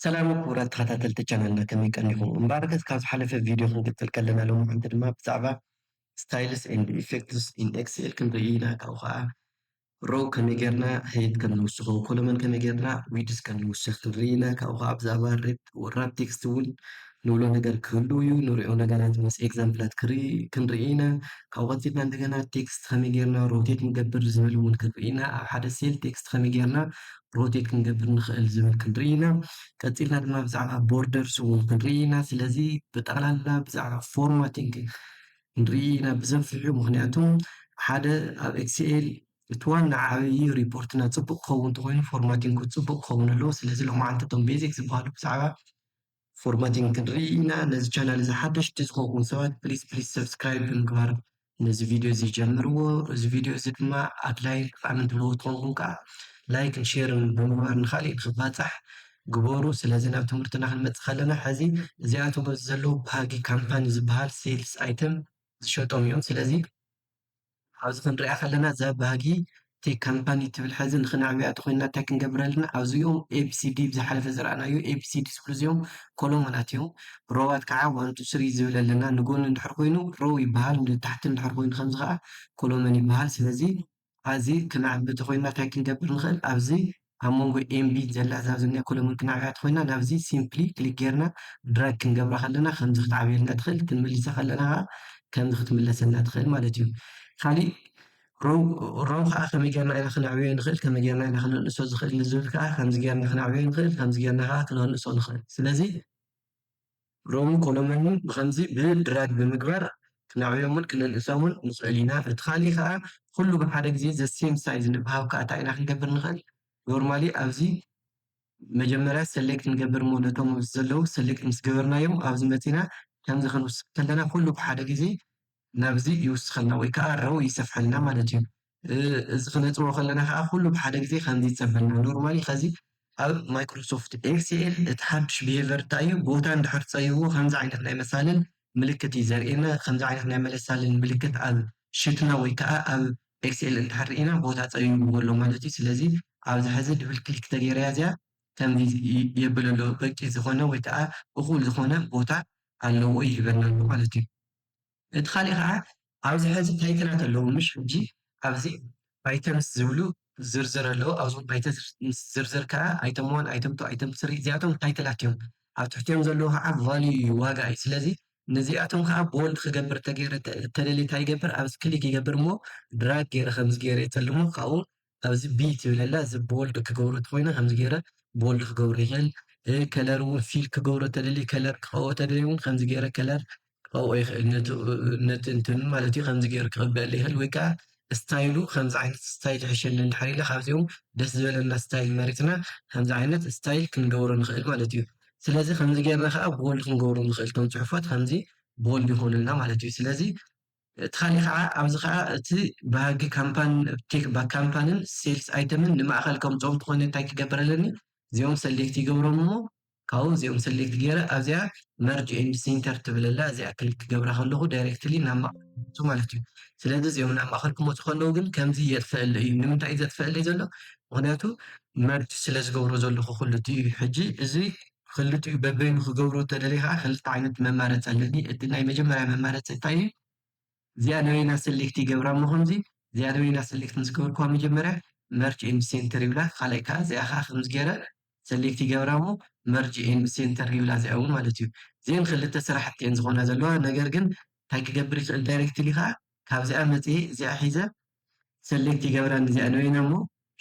ሰላም ክቡራት ተኸታተልቲ ቻናልና ከመይ ቀኒኹም እምበኣር ከስ ካብ ዝሓለፈ ቪድዮ ክንቅጽል ከለና ሎምዓንቲ ድማ ብዛዕባ ስታይልስ ኤንድ ኢፌክትስ ኢን ኤክስኤል ክንርኢ ኢና ካብኡ ከኣ ሮው ከመይ ጌርና ሀይት ከም ንውስኾ ኮለመን ከመይ ጌርና ዊድስ ከም ንውስኽ ክንርኢ ኢና ካብኡ ከኣ ብዛዕባ ሬፕ ወራፕ ቴክስት እውን ንብሎ ነገር ክህልው እዩ ንሪኦ ነገራት ምስ ኤግዛምፕላት ክንርኢ ኢና ካብኡ ቀጺልና እንደገና ቴክስት ከመይ ጌርና ሮቴት ንገብር ዝብል እውን ክንርኢ ኢና ኣብ ሓደ ሴል ቴክስት ከመይ ጌርና ሮቴት ክንገብር ንኽእል ዝብል ክንርኢ ኢና ቀፂልና ድማ ብዛዕባ ቦርደርስ እውን ክንርኢ ኢና ስለዚ ብጠቕላላ ብዛዕባ ፎርማቲንግ ክንርኢ ኢና ብዘፍሑ ምክንያቱ ሓደ ኣብ ኤክስኤል እቲ ዋና ዓብዪ ሪፖርትና ፅቡቅ ክኸውን እንተኮይኑ ፎርማቲንግ ፅቡቅ ክኸውን ኣለዎ ስለዚ ሎማዓንቲ እቶም ቤዚክ ዝበሃሉ ብዛዕባ ፎርማቲንግ ክንርኢ ኢና ነዚ ቻናል እዚ ሓደሽቲ ዝኮንኩም ሰባት ፕሊስ ፕሊስ ሰብስክራይብ ብምግባር ነዚ ቪድዮ እዚ ጀምርዎ እዚ ቪድዮ እዚ ድማ ኣድላይ ጠቃሚ ትብልዎ ትኮንኩም ከዓ ላይክን ሼርን ብምግባር ንካሊእ ንክባፃሕ ግበሩ ስለዚ ናብ ትምህርትና ክንመፅእ ከለና ሕዚ እዚኣቶም ኣብዚ ዘለዉ ባህጊ ካምፓኒ ዝበሃል ሴልስ ኣይተም ዝሸጦም እዮም ስለዚ ኣብዚ ክንሪኣ ከለና እዛ ባህጊ እተይ ካምፓኒ ትብል ሐዚ ንክነዕብያ ተኮይንና እታይ ክንገብር ኣለና ኣብዚ እዩም ABCD ኣብ ዝሓለፈ ዝረኣናዮ ABCD ዝብሉ እዚኦም ኮሎሞናት እዮም ሮዋት ካዓ one two three ዝብል ኣለና ንጎኒ እንድሕር ኮይኑ Row ይባሃል ንታሕቲ እንድሕር ኮይኑ ከምዚ ካዓ ኮሎመን ይባሃል ስለዚ ሐዚ ክነዕቢ ተኮይንና እታይ ክንገብር ንክእል ኣብዚ ኣብ መንጎ ኤምቢን ዘላ እዛ ኣብዚ ናይ ኮለሙን ክነዕብያ ተኾይና ናብዚ ሲምፕሊ ክሊክ ጌርና ድራግ ክንገብራ ከለና ከምዚ ክትዓብየልና ትኽእል ክንምልሳ ከለና ከኣ ከምዚ ክትምለሰልና ትኽእል ማለት እዩ ካሊእ ሮው ሮው ከኣ ከመይ ጌርና ኢና ክነዕብዮ ንኽእል ከመይ ጌርና ኢና ክነንእሶ ዝኽእል ንዝብል ከኣ ከምዚ ጌርና ክነዕብዮ ንኽእል ከምዚ ጌርና ከኣ ክነንእሶ ንኽእል ስለዚ ሮምን ኮሎመንን ብኸምዚ ብድራግ ብምግባር ክነዕብዮምን ክንእንእሶምን ንኽእል ኢና። እቲ ካልእ ከኣ ኩሉ ብሓደ ግዜ the same size ንብሃብ ከኣ እንታይ ኢና ክንገብር ንኽእል normally ኣብዚ መጀመርያ select ንገብር እሞ ነቶም ኣብዚ ዘለዉ select ምስ ገበርናዮም ኣብዚ መጺና ከምዚ ክንውስኽ ከለና ኩሉ ብሓደ ግዜ ናብዚ ይውስኸልና ወይ ከኣ row ይሰፍሐልና ማለት እዩ። እዚ ክነጥበቦ ከለና ከኣ ኩሉ ብሓደ ግዜ ከምዚ ይጸበና። ኖርማሊ ከዚ ኣብ ማይክሮሶፍት ኤክስኤል እቲ ሓድሽ ብሄቨር እንታይ እዩ ቦታ እንድሕር ጸይዎ ከምዚ ዓይነት ናይ መሳልል ምልክት እዩ ዘርእየና። ከምዚ ዓይነት ናይ መለሳልል ምልክት ኣብ ሽትና ወይ ከኣ ኣብ ኤክስኤል እንድሕር ርኢና ቦታ ጸይብዎ ኣሎ ማለት እዩ። ስለዚ ኣብዚ ሕዚ ድብል ክሊክ ተገይረያ እዚኣ ከምዚ የብል ኣሎ በቂ ዝኾነ ወይ ከኣ እኹል ዝኾነ ቦታ ኣለዎ ይህበና ኣሎ ማለት እዩ። እቲ ካሊእ ከኣ ኣብዚ ሐዚ ታይትላት ኣለዉ ምሽ ሕጂ ኣብዚ ኣይተ ምስ ዝብሉ ዝርዝር ኣለዉ ኣብዞም ኣይተ ምስ ዝርዝር ከኣ ኣይተም ዋን ኣይተም ቱ ኣይተም ስሪ እዚኣቶም ታይትላት እዮም ኣብ ትሕቲኦም ዘለዉ ከኣ ቫልዩ እዩ ዋጋ እዩ ስለዚ ንዚኣቶም ከኣ ቦልድ ክገብር ተገይረ ተደልየ ታይ ይገብር ኣብዚ ክሊክ ይገብር እሞ ድራግ ገይረ ከምዚ ገይረ ይፅልሞ ካብኡ ኣብዚ ብ ትብል ኣላ እዚ ቦልድ ክገብሮ ተኮይነ ከምዚ ገይረ ቦልድ ክገብሮ ይክእል ከለር እውን ፊል ክገብሮ ተደልየ ከለር ክቀብኦ ተደልየ እውን ከምዚ ገይረ ከለር ክቀብኦ ይክእል ነቲ እንትኑ ማለት እዩ ከምዚ ገይሩ ክቅበኣለ ይክእል ወይ ከዓ ስታይሉ ከምዚ ዓይነት ስታይል ይሕሸኒ እንድሕር ኢለ ካብዚኦም ደስ ዝበለና ስታይል መሪፅና ከምዚ ዓይነት ስታይል ክንገብሮ ንክእል ማለት እዩ ስለዚ ከምዚ ገይርና ከዓ ቦልድ ክንገብሮ ንክእል እቶም ፅሑፋት ከምዚ ቦልድ ይኮኑልና ማለት እዩ ስለዚ እቲ ካሊእ ከዓ ኣብዚ ከዓ እቲ ባህጊ ካምፓን ቴክ ባክ ካምፓንን ሴልስ ኣይተምን ንማእኸል ከምፅኦም ተኾይነ እንታይ ክገብር ኣለኒ እዚኦም ሰሌክት ይገብሮም እሞ ካብኡ እዚኦም ሰሌክት ገይረ ኣብዚኣ መርጅ ኤንድ ሴንተር ትብል ኣላ እዚኣ ክሊክ ክገብራ ከለኹ ዳይሬክትሊ ናብ ማእኸል ይመፁ ማለት እዩ ስለዚ እዚኦም ናብ ማእኸል ክመፁ ከለዉ ግን ከምዚ የጥፈኣለይ እዩ ንምንታይ እዩ ዘጥፈኣለይ ዘሎ ምክንያቱ መርጅ ስለ ዝገብሮ ዘለኹ ኩሉ እቲ ሕጂ እዚ ክልቲኡ በበይኑ ክገብሩ እተደልየ ከኣ ክልተ ዓይነት መማረጺ ኣለኒ እቲ ናይ መጀመርያ መማረጺ እንታይ እዩ እዚኣ ንበይና ሰሌክት ይገብራ እሞ ከምዚ እዚኣ ንበይና ሰሌክት ምስ ገበርክዋ መጀመርያ መርጅ ኤንድ ሴንተር ይብላ ካልኣይ ከኣ እዚኣ ከኣ ከምዚ ገረ ሰሌክት ይገብራ እሞ መርጅ ኤንድ ሴንተር ይብላ እዚኣ እውን ማለት እዩ እዚኤን ክልተ ስራሕቲ እየን ዝኾና ዘለዋ ነገር ግን እንታይ ክገብር ይኽእል ዳይሬክትሊ ከኣ ካብዚኣ መጺኤ እዚኣ ሒዘ ሰሌክት ይገብረኒ እዚኣ ንበይና እሞ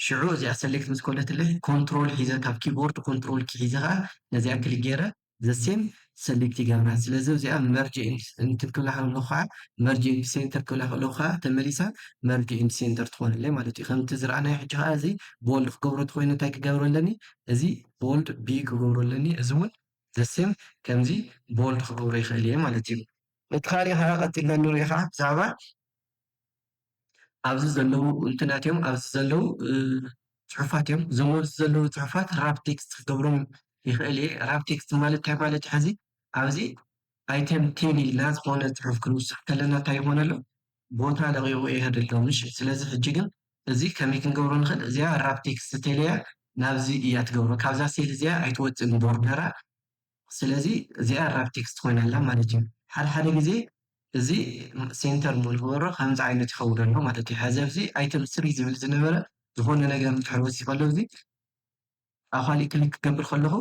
ሽዑ እዚኣ ሰሌክት ምስ ኮነትለይ ኮንትሮል ሒዘ ካብ ኪቦርድ ኮንትሮል ኪ ሒዘ ከኣ ነዚኣ ክሊክ ጌረ the same ሰሌክት ይገብራ ስለዚ ኣብዚኣ መርጅ ኤንድ እንትን ክብላ ከለኩ ከኣ መርጅ ኤንድ ሴንተር ክብላ ከለኩ ከኣ ተመሊሳ መርጅ ኤንድ ሴንተር ትኮነለይ ማለት እዩ ከምቲ ዝረኣናዮ ሕጂ ከኣ እዚ ቦልድ ክገብሮ እንተኮይነ እንታይ ክገብሮ ኣለኒ እዚ ቦልድ ቢ ክገብሮ ኣለኒ እዚ እውን the same ከምዚ ቦልድ ክገብሮ ይክእል እየ ማለት እዩ እቲ ካሊእ ከኣ ቀጺልና እንሪኦ ከኣ ብዛዕባ ኣብዚ ዘለዉ እንትናት እዮም። ኣብዚ ዘለዉ ፅሑፋት እዮም። እዞም ኣብዚ ዘለዉ ፅሑፋት ራብ ቴክስት ክገብሮም ይኽእል እየ። ራብ ቴክስት ማለት እንታይ ማለት እዩ? ሕዚ ኣብዚ ኣይተም ቴን ኢልና ዝኾነ ፅሑፍ ክንውስኽ ከለና እንታይ ይኾን ኣሎ? ቦታ ለቒቑ ይኸድ ኣሎ። እሺ ስለዚ ሕጂ ግን እዚ ከመይ ክንገብሮ ንኽእል? እዚኣ ራብ ቴክስት እንተይለያ ናብዚ እያ ትገብሮ። ካብዛ ሴል እዚኣ ኣይትወፅእን ቦርደራ። ስለዚ እዚኣ ራፕ ቴክስት ኮይና ኣላ ማለት እዩ። ሓደ ሓደ ግዜ እዚ ሴንተር ንክገብሮ ከምዚ ዓይነት ይኸውን ኣሎ ማለት እዩ። ሐዚ ኣብዚ ኣይተም ስሪ ዝብል ዝነበረ ዝኾነ ነገር እንድሕር ወሲኸሉ ኣብዚ ኣብ ኻሊእ ክሊክ ክገብር ከለኹ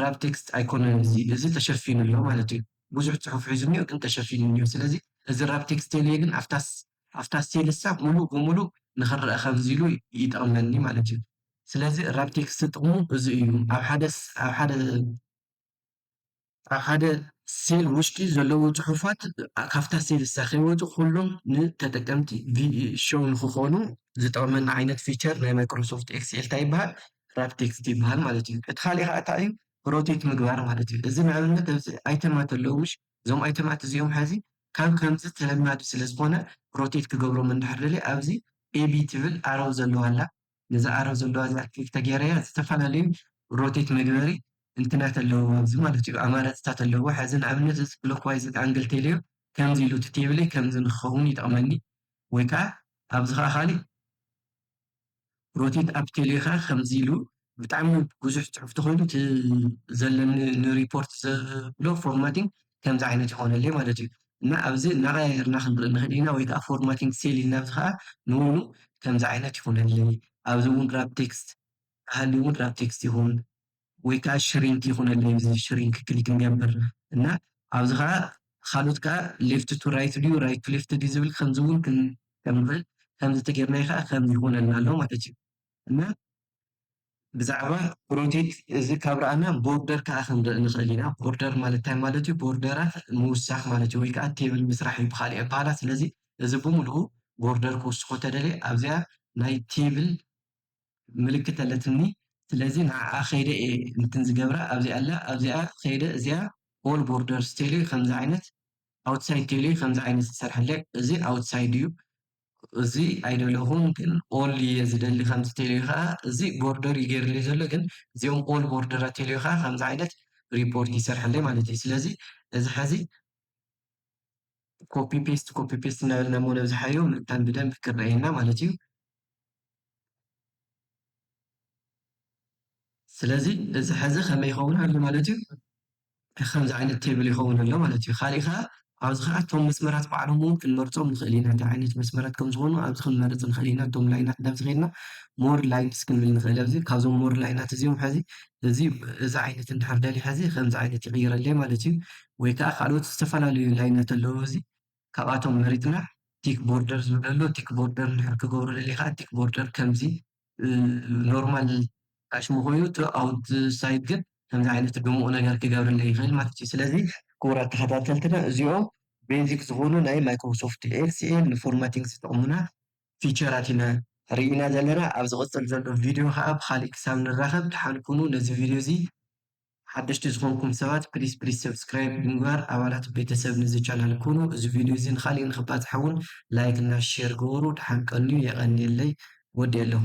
ራፕ ቴክስት ኣይኮነን እዚ እዚ ተሸፊኑ ኣሎ ማለት እዩ። ብዙሕ ፅሑፍ ሒዙ እኒኦ ግን ተሸፊኑ እኒኦ። ስለዚ እዚ ራፕ ቴክስት ተይለየ ግን ኣብታ ኣብታ ሴልሳ ሙሉእ ብሙሉእ ንክረኣ ከምዚ ኢሉ ይጠቕመኒ ማለት እዩ። ስለዚ ራፕ ቴክስት ጥቕሙ እዚ እዩ ኣብ ሓደ ኣብ ሓደ ኣብ ሓደ ሴል ውሽጢ ዘለዉ ፅሑፋት ካብታ ሴልሳ ከይወፁ ኩሎም ንተጠቀምቲ ቪዥው ንክኾኑ ዝጠቕመና ዓይነት ፊቸር ናይ ማይክሮሶፍት ኤክስኤል ታይ ይበሃል ራፕ ቴክስት ይበሃል ማለት እዩ። እቲ ካሊእ ከዓ ታይ እዩ ሮቴት ምግባር ማለት እዩ። እዚ ንኣብነት ኣብዚ ኣይተማት ኣለዉ እዞም ኣይተማት እዚኦም ሐዚ ከም ከምዚ ተለማዲ ስለ ዝኮነ ሮቴት ክገብሮም እንድሕር ደልየ ኣብዚ AB ትብል ኣረው ዘለዋ ኣላ ነዛ ኣረው ዘለዋ እዚኣ ክሊክ ተገይረያ ዝተፈላለዩ ሮቴት መግበሪ እንትናት ኣለውዋ ኣብዚ ማለት እዩ ኣማራጺታት ኣለውዋ ሕዚ ንኣብነት እዚ ክሎክዋይዝ ኣንግል ቴልዮ ከምዚ ኢሉ እቲ ቴብለይ ከምዚ ንክከውን ይጠቅመኒ ወይ ከኣ ኣብዚ ከኣ ካሊእ ሮቲት ኣብ ቴሌኻ ከምዚ ኢሉ ብጣዕሚ ብዙሕ ጽሑፍ ተኾይኑ እቲ ዘለኒ ንሪፖርት ዘብሎ ፎርማቲንግ ከምዚ ዓይነት ይኾነለይ ማለት እዩ እና ኣብዚ እናቐያየርና ክንርኢ ንኽእል ኢና ወይ ከዓ ፎርማቲንግ ሴል ኢልና ኣብዚ ከዓ ንውኑ ከምዚ ዓይነት ይኾነለይ ኣብዚ እውን ራፕ ቴክስት ሃልዩ እውን ራፕ ቴክስት ይኹን ወይ ከኣ ሽሪንክ ይኹነለይ እዚ ሽሪንክ ክሊክ ንገብር እና ኣብዚ ከኣ ካልኦት ከኣ ሌፍት ቱ ራይት ድዩ ራይት ቱ ሌፍት ድዩ ዝብል ከምዚ እውን ክንጥቀም ንኽእል ከምዚ ተጌርናዮ ከኣ ከምዚ ይኹነልና ኣሎ ማለት እዩ እና ብዛዕባ ሮቴት እዚ ካብ ረኣና ቦርደር ከዓ ክንርኢ ንኽእል ኢና ቦርደር ማለት እንታይ ማለት እዩ ቦርደራት ምውሳኽ ማለት እዩ ወይ ከዓ ቴብል ምስራሕ እዩ ብካሊእ ኣበሃላ ስለዚ እዚ ብምልኡ ቦርደር ክውስኾ ተደልየ ኣብዚኣ ናይ ቴብል ምልክት ኣለትኒ ስለዚ ንዓኣ ከይደ እየ እንትን ዝገብራ ኣብዚ ኣላ ኣብዚኣ ከይደ እዚኣ ኦል ቦርደርስ ቴሌ ከምዚ ዓይነት ኣውትሳይድ ቴሌ ከምዚ ዓይነት ዝተሰርሐለ እዚ ኣውትሳይድ እዩ እዚ ኣይደለኹን ግን ኦል እየ ዝደሊ ከምዚ ቴሌ ከዓ እዚ ቦርደር እዩ ገይርለይ ዘሎ ግን እዚኦም ኦል ቦርደራት ቴሌ ከዓ ከምዚ ዓይነት ሪፖርት ይሰርሐለይ ማለት እዩ ስለዚ እዚ ሐዚ ኮፒ ፔስት ኮፒ ፔስት እናበልና እሞ ነብዝሓዮ ምእንታን ብደንብ ክረኣየና ማለት እዩ። ስለዚ እዚ ሕዚ ከመይ ይኸውን ኣሎ ማለት እዩ ከምዚ ዓይነት ቴብል ይኸውን ኣሎ ማለት እዩ። ካሊእ ከዓ ኣብዚ ከዓ እቶም መስመራት ባዕሎም እውን ክንመርፆም ንኽእል ኢና እንታይ ዓይነት መስመራት ከም ዝኾኑ ኣብዚ ክንመርፅ ንኽእል ኢና። እቶም ላይናት ናብዚ ከይድና ሞር ላይንስ ክንብል ንኽእል ኣብዚ ካብዞም ሞር ላይናት እዚኦም ሕዚ እዚ እዚ ዓይነት እንድሕር ደልየ ሕዚ ከምዚ ዓይነት ይቕይረለይ ማለት እዩ። ወይ ከኣ ካልኦት ዝተፈላለዩ ላይነት ኣለዎ እዚ ካብኣቶም መሪጽና ቲክ ቦርደር ዝብል ኣሎ ቲክ ቦርደር እንድሕር ክገብሮ ደልየ ከኣ ቲክ ቦርደር ከምዚ ኖርማል ጥቃ ሽሙ ኮይኑ እቲ ኣውት ሳይድ ግን ከምዚ ዓይነት ድሙቅ ነገር ክገብረለይ ይክእል ማለት እዩ ስለዚ ክቡራት ተከታተልትና እዚኦም ቤዚክ ዝኮኑ ናይ ማይክሮሶፍት ኤክስኤል ንፎርማቲንግ ዝጠቅሙና ፊቸራት ኢና ሪኢና ዘለና ኣብ ዝቅጽል ዘሎ ቪድዮ ከኣ ብካሊእ ክሳብ ንራከብ ድሓን ኩኑ ነዚ ቪድዮ እዚ ሓደሽቲ ዝኮንኩም ሰባት ፕሊስ ፕሊስ ሰብስክራይብ ብምግባር ኣባላት ቤተሰብ ንዚ ቻናል ኩኑ እዚ ቪድዮ እዚ ንካሊእ ንክባፃሕ እውን ላይክ እና ሼር ግበሩ ዳሓን ቀንዩ የቀንየለይ ወዲኤለኹ።